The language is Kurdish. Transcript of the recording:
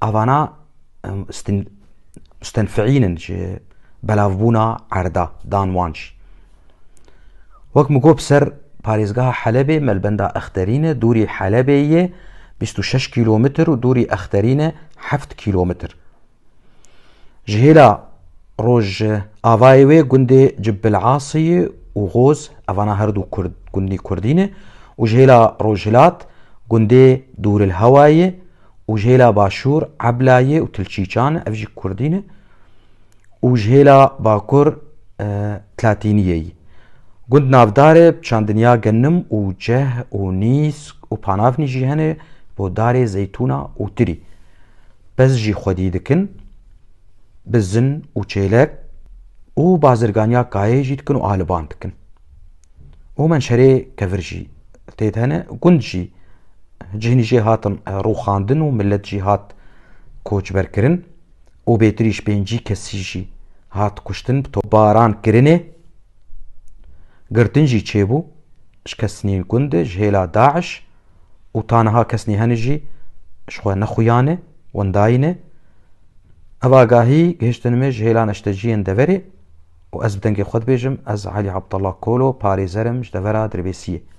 Avana mustenfiînin ji belavbûna erda dan wan jî. Wek min got ser parêzgeha Helebê melbenda Exterîne dûrî Helebê yê bîst û şeş kîlometr û dûrî Exterîne heft kîlometr. Ji hêla roj avayê wê gundê Cibil'asiyê û Goz evana herdû gundî kurdî ne û ji hêla rojhilat gundê Dûrilhewayê û ji hêla başûr Eblayê û Tilçîçan e, ev jî kurdî ne û ji hêla bakur Tlatîniyê yî. Gund navdarê bi çandiniya genim û ceh û nîsk û panavnî jî hene bo darê zeytûna û tirî. Pez jî xwedî dikin bi zin û çêlek û bazirganiya kayeyê jî dikin û aliban dikin. Omen şerê kevir jî tê de ne û gund jî cihînî jê hatin e, rûxandin û milet jî hat koçberkirin û bêtirî ji pêncî kesî jî hat kuştin bi topbaran kirinê. Girtin jî çêbû ji kesnîn gund ji hêla DAIŞ û taniha kesnî hene jî ji xwe nexuyane wendayîne. Ev agahî gihiştin me ji hêla neşteciyên deverê. û ez bi dengê xwe dibêjim, ez Elî Abdullah Kolo, parêzer im ji devera Dirbêsiyê.